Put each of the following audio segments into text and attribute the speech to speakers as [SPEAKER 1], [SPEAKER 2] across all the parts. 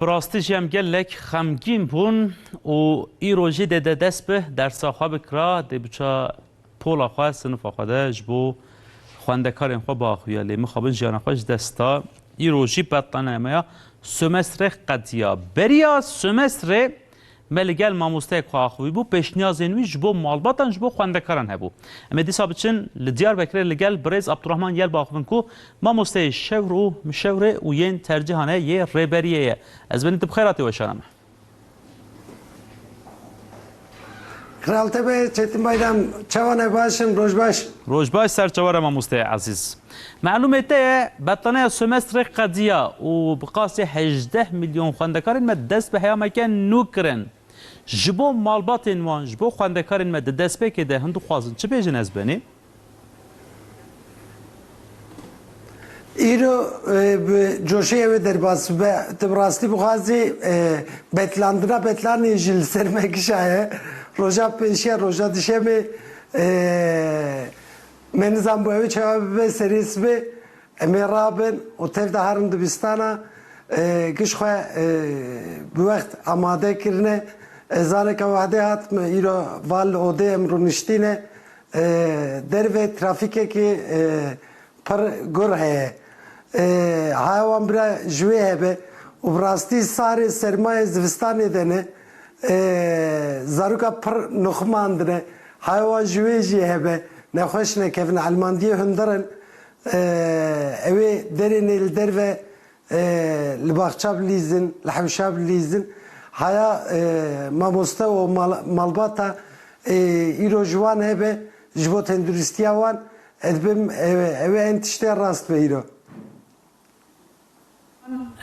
[SPEAKER 1] Bi rastî jî em gelek xemgîn bûn û îro jî dê de dest bi dersa xwe bikira, dê biça pola xwe, sinifa xwe de ji bo xwendekarên xwe biaxuya lê mixabin jiyana xwe ji dest da. Îro jî betlana me ya Sömestre qediya. Beriya Sömestre Me li gel mamosteyek xwe axivîbû, pêşniyazên wî ji bo malbatan ji bo xwendekaran hebû. Em ê dîsa biçin li Diyarbekirê li gel birêz Abdurahman Yelba axivin ku mamosteyê şewr û mişewrê û yên tercihan e yê Rêberiyê ye. Ez benî tu bi xêr hatî weşana me.
[SPEAKER 2] Kral Tebe, Çetin Baydam, çawa ne? Baş in, roj baş. Roj baş, ser çawa
[SPEAKER 1] re mamoste ezîz. Malûmê te ye, betlaneya semestrê qediya û bi qasî hejdeh milyon xwendekarên me dest bi heyameke nû kirin. Ji bo malbatên wan, ji bo xwendekarên me di destpêkê de hûn dixwazin çi bêjin ez benê?
[SPEAKER 2] Îro bi coşê ew ê derbas bibe, tu bi rastî bixwazî betlandina betlanê jî li ser me kişaye. Roja pêşiya roja dişemê Me nizan bû ew ê çawa bibe serê sibê em ê rabin û tev de herin dibistana giş xwe bi wext amade kirine. Zareka wehdê hat min îro va li odê em rûniştîne derve trafîkekê pir gur heye. Haya wan bira ji wê hebe û bi rastî sarê sermayê zivistanê de ne. Zaroka pir nuxmandine. Haya wan ji wê jî hebe. Nexweş nekevin. Elmandiyê hundir in. Ew ê derên ê li derve li baxça bilîzin, li hewşa bilîzin. Haya mamoste û malbata îro ji wan hebe ji bo tenduristiya wan. Ez dibim ew ê em tiştê rast be îro.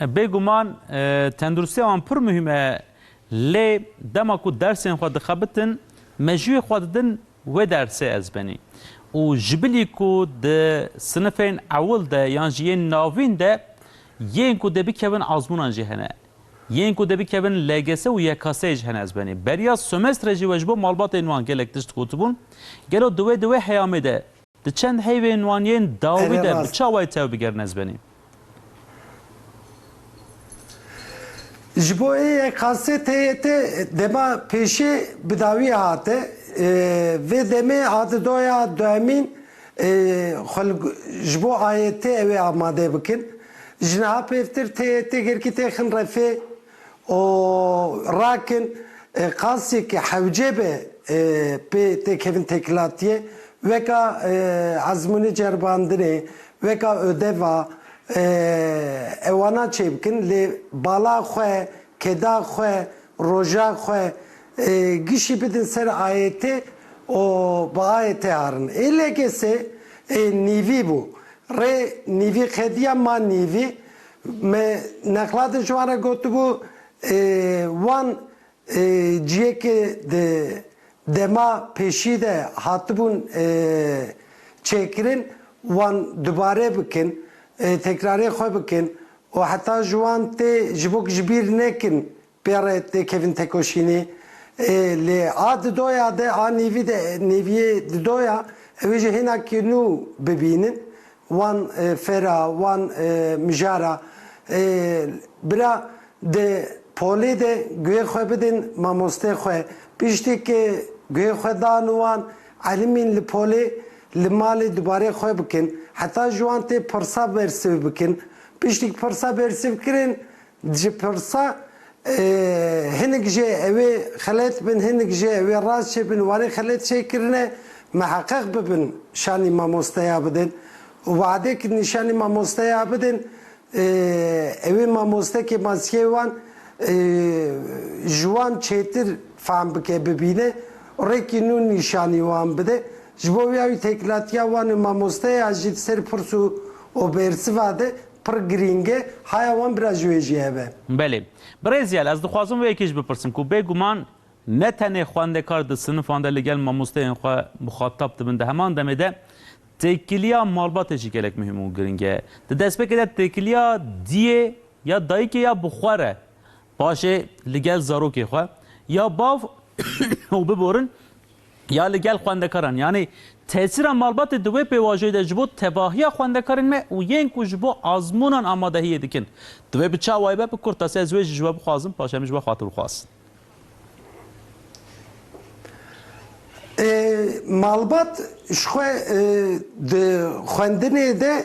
[SPEAKER 1] Bê guman tendurustiya wan pir muhîm e lê dema ku dersên xwe dixebitin mejûyê xwe didin wê dersê ezbenî û ji bilî ku di sinifên ewil de yan jî yên navîn de yên ku dê bikevin azmûnan jî hene. Yên ku dê bikevin LGS û YKS'ê jî hene ezbenî. Beriya semestrê jî we ji bo malbatên wan gelek tişt gotibûn. Gelo di wê di wê heyamê de Di çend heyvên wan yên dawî de bi çawayî tev bigerîn ez benî.
[SPEAKER 2] Ji bo ê yek qasê tê tê dema pêşê bi dawî hate. Vê demê hate doya duhemîn xwe li ji bo ayê tê ewê amade bikin. Ji niha pêvtir tê tê girkî têxin refê. û rakin qasî ke hewce be pê têkevin têkilatiyê weka ezmûnê ceribandinê, weka ödeva ewana çêbikin lê bala xwe, keda xwe, roja xwe gişî bidin ser AYT û bi AYT arin. Ê LGS'ê nîvî bû. Rê nîvî qediya ma nîvî Me nexlatên ji wan re gotibû, wan ciyekê di dema pêşî de hatibûn çêkirin, wan dubare bikin, tekrarê xwe bikin û heta ji wan tê ji bo ku ji bîr nekin Pêrê tê kevin tekoşînê ê lê a didoya de a nîvî de nîvîyê didoya ewê jî hêna kî nû bibînin wan fêra wan mijara ê bira di polê de guhê xwe bidin mamostê xwe piştî ki guhê xwe dan wan elimîn li polê li malê dubarê xwe bikin heta ji wan tê pirsa bersiv bikin piştî pirsa bersiv kirin Ji pirsa hinek jê ew ê xelet bin hinek jê ew ê rast jê bin warê xelet jê kirine miheqeq bibin şanî mamosteya bidin û weadê ku nîşanî mamosteya bidin ew ê mamostekê maskeyê wan ji wan çêtir fehm bike bibîne û rêkî nû nîşanî wan bide ji bo wî ew têkilatiya wan û mamosteya jî di ser pirs û bersiva de Pir girîng e, haya wan bira ji wê jî hebe. Belê. Birêzyal,
[SPEAKER 1] ez dixwazim wê yekê jî bipirsim ku bê guman ne tenê xwendekar di sinifan de ligel mamosteyên xwe muxatab dibin di heman demê de têkiliya malbatê jî gelek muhîm û girîng e. Di destpêkê de têkiliya diyê ya dayikê ya bi xwe re Paşê li gel zarokê xwe ya bav û biborin ya li gel xwendekaran yanî tesîra malbatê di wê pêvajoyê de ji bo tevahiya xwendekarên me û yên ku ji bo azmûnan amadehiyê dikin divê bi çawayê be bi kurtasi ez wê jî ji we bixwazim paşê em ji we xatir bixwazin. Malbat
[SPEAKER 2] ji xwe di xwendinê de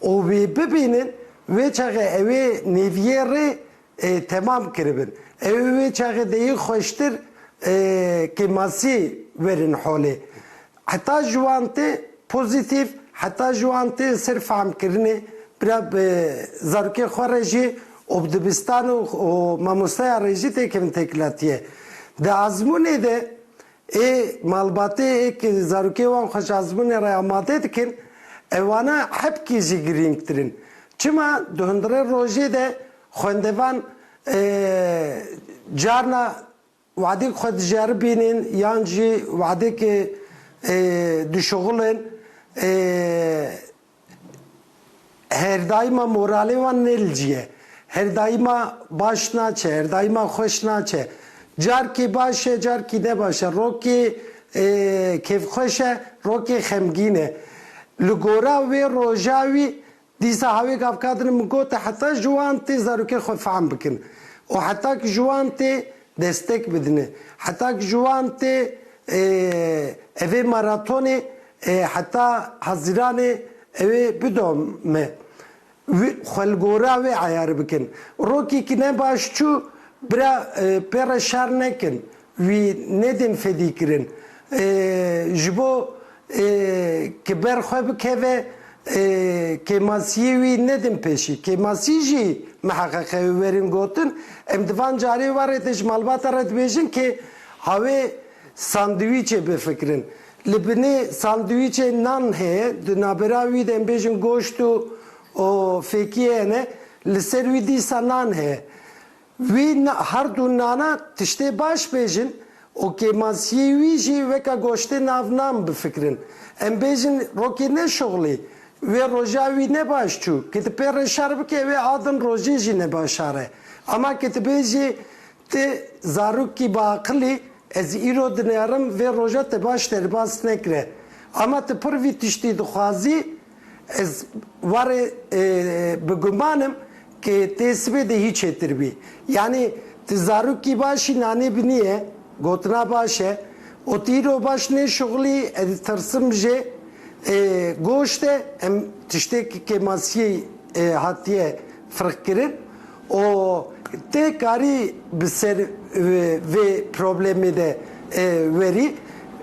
[SPEAKER 2] û wê bibînin, wê çaxê ew ê nêviyê rê temam kiribin. Ew ê wê çaxê de yê xweştir kêmasiyê werin holê. Heta ji wan tê pozîtîf, heta ji wan tê li ser fehmkirinê, bira bi zarokên xwe re jî û bi dibistan û mamosteyan re jî têkevin têkilatiye. Di azmûnê de Ê malbatê ê ki zarokê wan xweş azmûnê re amade dikin, ewana hepkî jî girîngtir in. Çima di hundirê rojê de xwendevan carna wadek xwe diceribînin yan jî wadek dişuxulin Her daîma moralê wan ne li cî ye. Her daîma baş naçe, her daîma xweş naçe. Carkê baş e, carkî ne baş e. Rokê kêfxweş e, rokê xemgîn e. Li gora wê roja wî dîsa hawê gavkadin min got heta ji wan tê zarokên xwe fehm bikin û heta ku ji wan tê destek bidine. Heta ku ji wan tê evê maratonê heta Haziranê ewê bidome. Xwe li gora wê eyar bikin. Rokê ku ne baş çû bira pêre şer nekin. Wî nedên fedîkirin. Ji bo Ke ber xwe bikeve kêmasiyê wî nedin pêşî. Kêmasî jî miheqeqe wê werin gotin. Em di van carê warê de ji malbata re dibêjin ke hawê sandwîçê bifikirin. Li binê sandwîçê nan heye, di navbera wî de em bêjin goşt û fêkiyê hene, li ser wî dîsa nan heye. Wî her du nana tiştê baş bêjin û kêmansiyê wî jî weke goştê nav nan bifikirin. Em bêjin rokê neşuxlî, wê roja wî ne baş çû, ki ti pê re şer bike wê a din rojê jî ne baş are. Ama ki ti bêjî ti zarokî biaqil î, ez îro dinerim vê roja te baş derbas nekire. Ama ti pir vî tiştî dixwazî, Ez warê bi guman im ke tê sibê de hî çêtir bî. Yanî ti zarokî başî nanê binîye, gotina baş e û ti îro baş nêşuxilî ez tirsim jê goşte em tiştêk ke masîyê hatiye firq kirin û tê karî bi ser vê problemê de werî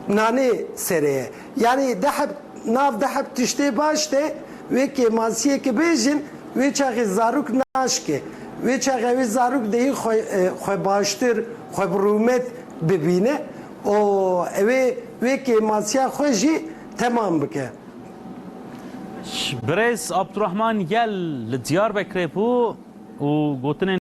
[SPEAKER 2] nanê serê ye. Yanî deheb nav deheb tiştê baş de wê kêmansiyekê bêjin wê çaxê zarok naşke. Wê çaxe wê zarok dê yî xwe xwe baştir, xwe bi rûmet bibîne û ewê wê kêmansiya xwe jî temam bike.
[SPEAKER 1] Birêz Abdurahman Yel li Diyarbekirê bû û gotinên.